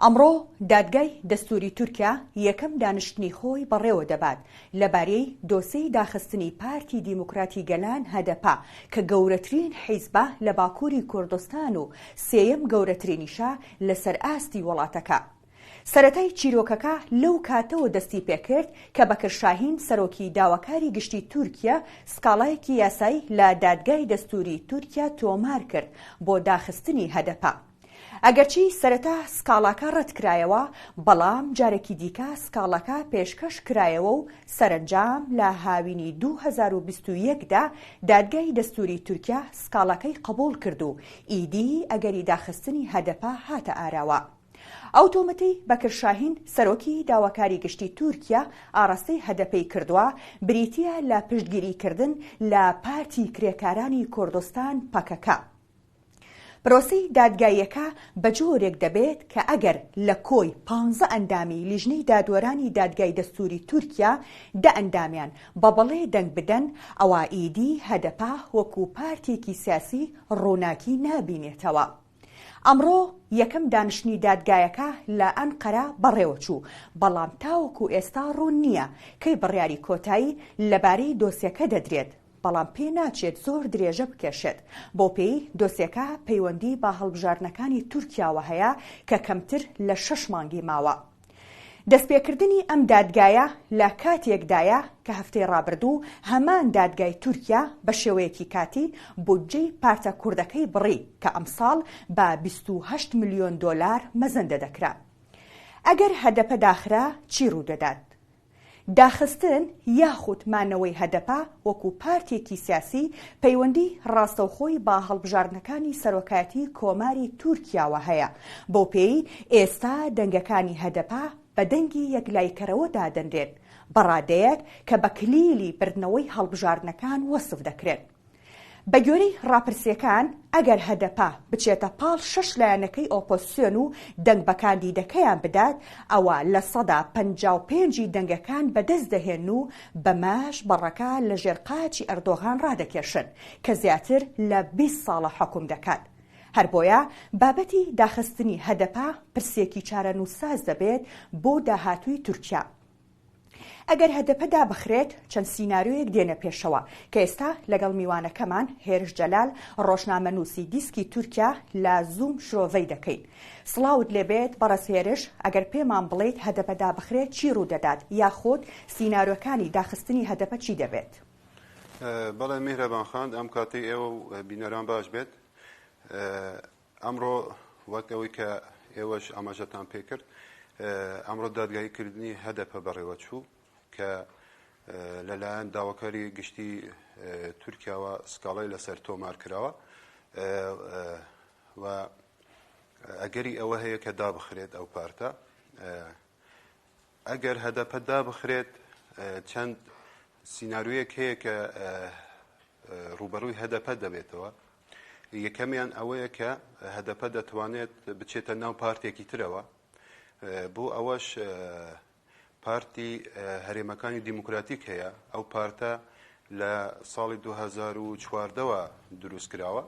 ئەمڕۆ دادگای دەستووری تورکیا یەکەم دانیشتنی خۆی بەڕێوە دەبات لەباریەی دۆسێی داخستنی پارتی دیموکراتی گەلان، هەدەپە، کە گەورەترین حیزبە لە باکووری کوردستان و سێیەم گەورەترینیشە لەسەر ئاستی وڵاتەکە. سەرەتای چیرۆکەکە لەو کاتەوە دەستی پێکرد کە بەکر شاهین سەرۆکی داواکاری گشتی تورکیا سکاڵایەکی یاسایی لە دادگای دەستووری تورکیا تۆمار کرد بۆ داخستنی هەدەپە. ئەگەرچی سەرەتا سکاڵاکە ڕەتکرایەوە، بەڵام جارێکی دیکە سکاڵاکە پێشکەش کرایەوە و سەرەنجام لە هاوینی دوو هەزار و بیست و یەک دا دادگای دەستووری تورکیا سکاڵاکەی قبووڵ کرد و ئیدی ئەگەری داخستنی هەدەپە هاتە ئاراوە. ئەو تۆمەتەی بەکر شاهین سەرۆکی داواکاری گشتی تورکیا ئاڕاستەی هەدەپەی کردووە بریتییە لە پشتگیریکردن لە پارتی کرێکارانی کوردستان، پەکەکە. پرۆسەی دادگاییەکە بە جۆرێک دەبێت کە ئەگەر لە کۆی پانزە ئەندامی لیژنەی دادوەرانی دادگای دەستووری تورکیا دە ئەندامیان بە بەڵێ دەنگ بدەن، ئەوا ئیدی هەدەپە وەکوو پارتێکی سیاسی ڕووناکی نابینێتەوە. ئەمڕۆ یەکەم دانیشتنی دادگایەکە لە ئەنقەرە بەڕێوە چوو، بەڵام تاوەکوو ئێستا ڕوون نییە کەی بڕیاری کۆتایی لەبارەی دۆسیەکە دەدرێت. بەڵام پێ ناچێت زۆر درێژە بکێشێت، بەو پێی دۆسێکە پەیوەندی بە هەڵبژاردنەکانی تورکیاوە هەیە کە کەمتر لە شەش مانگی ماوە. دەستپێکردنی ئەم دادگایە لە کاتێکدایە کە هەفتەی ڕابردوو هەمان دادگای تورکیا بە شێوەیەکی کاتی بودجەی پارتە کوردەکەی بڕی کە ئەمساڵ بە بیست و هەشت ملیۆن دۆلار مەزەندە دەکرا. ئەگەر هەدەپە داخرا چی ڕوودەدات؟ داخستن یاخود مانەوەی هەدەپە وەکو پارتێکی سیاسی پەیوەندی ڕاستەوخۆی با هەڵبژاردنەکانی سەرۆکایەتی کۆماری تورکیاوە هەیە، بەو پێی ئێستا دەنگەکانی هەدەپە بە دەنگی یەکلایکەرەوە دادەنرێن، بەڕادەیەک کە بە کلیلی بردنەوەی هەڵبژاردنەکان وەسف دەکرێن. بەگوێرەی ڕاپرسییەکان، ئەگەر هەدەپە بچێتە پاڵ شەش لایەنەکەی ئۆپۆزسیۆن و دەنگ بە کاندیدەکەیان بدات، ئەوا لە سەدا پەنجا و پێنج ی دەنگەکان بەدەست دەهێن و بەمەش بەڕەکە لە ژێر قاچی ئەردۆغان ڕادەکێشن کە زیاتر لە بیست ساڵە حوکم دەکات. هەر بۆیە بابەتی داخستنی هەدەپە پرسێکی چارەنووسساز دەبێت بۆ داهاتووی تورکیا. ئەگەر هەدەپە دابخرێت، چەند سیناریۆیەک دێنە پێشەوە، کە ئێستا لەگەڵ میوانەکەمان هێرش جەلال، ڕۆژنامەنووسی دیسکی تورکیا لە زووم شرۆڤەی دەکەین. سڵاوت لێبێت بەڕێز هێرش، ئەگەر پێمان بڵێیت هەدەپە دابخرێت چی ڕوودەدات، یاخود سینارۆکانی داخستنی هەدەپە چی دەبێت؟ بەڵێ میهرەبان خان، ئەم کاتەی ئێوە و بینەران باش بێت. ئەمڕۆ وەک ئەوەی کە ئێوەش ئاماژەتان پێکرد، ئەمڕۆ دادگایی کردنی هەدەپە بەڕێوەچوو کە لەلایەن داواکاری گشتی تورکیاوە سکاڵای لەسەر تۆمار کراوە و ئەگەری ئەوە هەیە کە دابخرێت ئەو پارتە ئەگەر هەدەپە دابخرێت چەند سینارویەک هەیە کە ڕوبەڕووی هەدەپە دەبێتەوە یەکەمیان ئەوەیە کە هەدەپە دەتوانێت بچێتە ناو پارتێکی ترەوە، بۆ ئەوەش پارتی هەرێمەکانی دیموکراتیک هەیە، ئەو پارتە لە ساڵی دوو هەزار و چواردە وە دروست کراوە،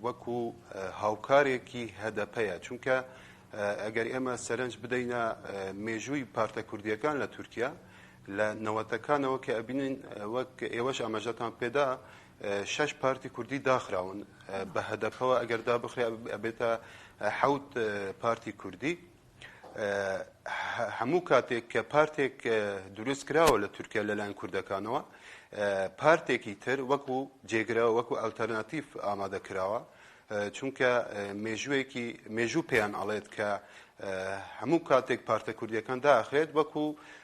وەکو هاوکارێکی هەدەپەیە، چونکە ئەگەر ئێمە سەرنج بدەینە مێژووی پارتە کوردییەکان لە تورکیا لە نەوەتەکانەوە کە ئەبینین وەک ئێوەش ئاماژەتان پێدا، شەش پارتی کوردی داخراون بە هەدەپەوە ئەگەر دابخرێ ئەبێتە حەوت پارتی کوردی هەموو کاتێک کە پارتێک دروست کراوە لە تورکیا لەلایەن کوردەکانەوە پارتێکی تر وەکو جێگرەوە وەکو ئەلتەرناتیف ئامادە کراوە چونکە مێژوویەکی مێژوو پێیان ئەڵێت کە هەموو کاتێک پارتە کوردیەکان داخرێت وەکو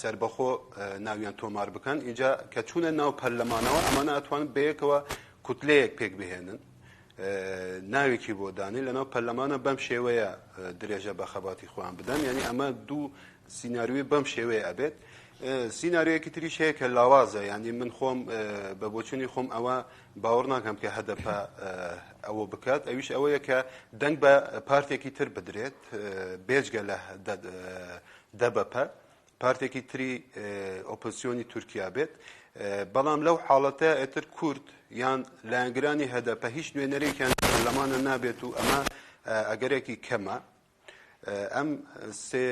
سەربەخۆ ناویان تۆمار بکەن ئینجا کە چوونە ناو پەرلەمانەوە ئەمانە ئەتوان بەیەکەوە کوتلەیەک پێک بهێنن ناوێکی بۆ دانی لەناو پەرلەمانە بەم شێوەیە درێژە بە خەباتی خۆیان بدەن یعنی ئەمە دوو سینناروی بەم شێوەیە ئەبێت سیننارویەکی تریش هەیە کە لاوازە ینی من خۆم بە بۆچوونی خۆم ئەوە باوەڕ ناکەم کە هەدەپە ئەوە بکات ئەویش ئەوەیە کە دەنگ بە پارتێکی تر بدرێت بێجگە لە دەبەپە، پارتێکی تری ئۆپۆزسیۆنی تورکیا بێت، بەڵام لەو حاڵەتە ئێتر کورد یان لایەنگرانی هەدەپە هیچ نوێنەرێکیان لە پەرلەمانە نابێت و ئەمە ئەگەرێکی کەمە. ئەم سێ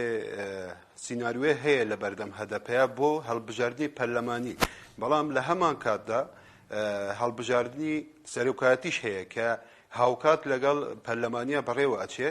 سیناروێ هەیە لە بەردەم هەدەپەیە بۆ هەڵبژاردنی پەرلەمانی، بەڵام لە هەمان کاتدا هەڵبژاردنی سەرۆکایەتیش هەیە کە هاوکات لەگەڵ پەرلەمانیا بەڕێوە ئەچێ،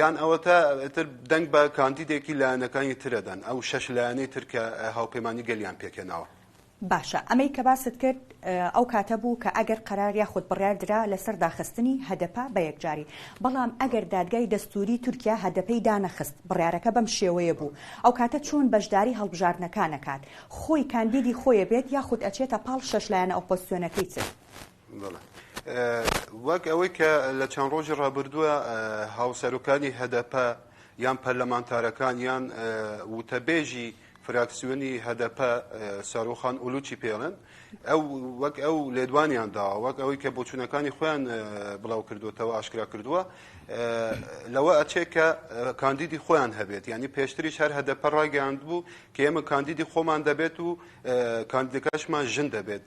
یان ئەوەتا ئیتر دەنگ بە کاندیدێکی لایەنەکانی تر ئەدەن، ئەو شەش لایەنەی تر کە هاوپەیمانی گەلیان پێکهێناوە. باشە ئەمەی کە باست کرد ئەو کاتە بوو کە ئەگەر قەرار یاخود بڕیار درا لەسەر داخستنی هەدەپە بە یەکجاری، بەڵام ئەگەر دادگای دەستووری تورکیا هەدەپەی دانەخست، بڕیارەکە بەم شێوەیە بوو، ئەو کاتە چۆن بەشداری هەڵبژاردنەکان ئەکات؟ خۆی کاندیدی خۆی ئەبێت یاخود ئەچێتە پاڵ شەش لایەنە ئۆپۆزسیۆنەکەی تر؟ بەڵێ وەک ئەوەی کە لە چەند ڕۆژی ڕابردووە هاوسەرۆکانی هەدەپە یان پەرلەمانتارەکان یان وتەبێژی فراکسیۆنی هەدەپە سەرۆخان ئولوچی پێڵن ئەو وەک ئەو لێدوانیان داوە وەک ئەوەی کە بۆچوونەکانی خۆیان بڵاو کردوتەوە ئاشکرا کردووە لەوە ئەچێت کە کاندیدی خۆیان هەبێت ینی پێشتریش هەر هەدەپە ڕاگەاند بوو کە ئێمە کاندیدی خۆمان دەبێت و کاندیدەکەشمان ژن دەبێت.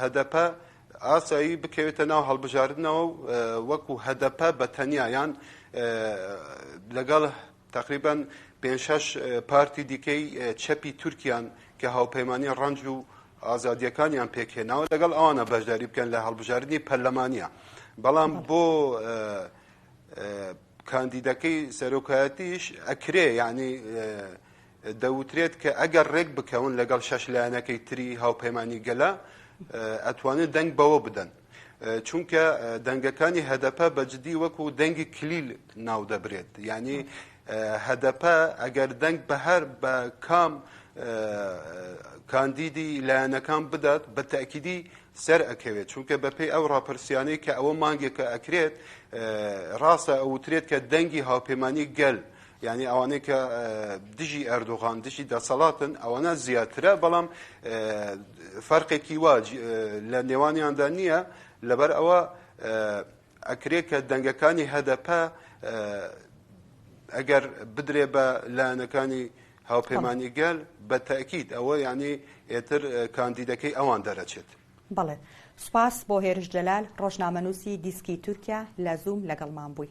هەدەپە ئاسایی بکەوێتە ناو هەڵبژاردنەوە و وەکو هەدەپە بە تەنیا یان لەگەڵ تقریبان پێنج شەش پارتی دیکەی چەپی تورکیان کە هاوپەیمانی ڕەنج و ئازادیەکانیان پێکهێناوە لەگەڵ ئەوانە بەشداری بکەن لە هەڵبژاردننی پەرلەمانە بەڵام بۆ کاندیدەکەی سەرۆکایەتیش ئەکرێ یعنی دەوترێت کە ئەگەر ڕێک بکەون لەگەڵ شەش لایەنەکەی تری هاوپەیمانی گەلە ئەتوانێت دەنگ بەوە بدەن چونکە دەنگەکانی هەدەپە بەجددی وەکو دەنگی کلیل ناو دەبرێت ینی هەدەپە ئەگەر دەنگ بە هەر بە کام کاندیدی لایەنەکان بدات بە تاکیدی سەر ئەکەوێت چونکە بەپی ئەو ڕاپرسیانەی کە ئەوە مانگێکە ئەکرێت ڕاستە ئەوترێت کە دەنگی هاوپەیمانانی گەل یانی ئەوانەی کە دژی ئەردۆغان دژی دەسەڵاتن ئەوەنە زیاترە بەڵام فەرقێکی وا لە نێوانیاندا نییە لەبەر ئەوە ئەکرێ کە دەنگەکانی هەدەپە ئەگەر بدرێ بە لایەنەکانی هاوپەیمانی گەل بە تاکیید ئەوە یعنی ئێتر کاندیدەکەی ئەوان دەرەچێت بڵێ سوپاس بۆ هێرش جەلال ڕۆژنامەنووسی دیسکی تورکیا لە زووم لەگەڵمان بووی.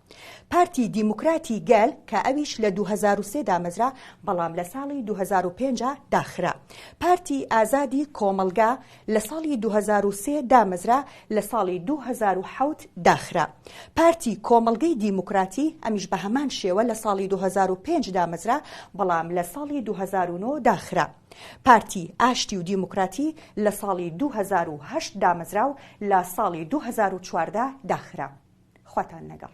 پارتی دیموکراتی گەل کە ئەویش لە دوو هەزار و سێ دامەزرا بەڵام لە ساڵی دوو هەزار و پێنج داخرا. پارتی ئازادی کۆمەڵگا لە ساڵی دوو هەزار و سێ دامەزرا لە ساڵی دوو هەزار و حەوت داخرا. پارتی کۆمەڵگەی دیموکراتی ئەمیش بە هەمان شێوە لە ساڵی دوو هەزار و پێنج دامەزرا بەڵام لە ساڵی دوو هەزار و نۆ داخرا. پارتی ئاشتی و دیموکراتی لە ساڵی دوو هەزار و هەشت دامەزرا و لە ساڵی دوو هەزار و چواردە داخرا. خواتان لەگەڵ.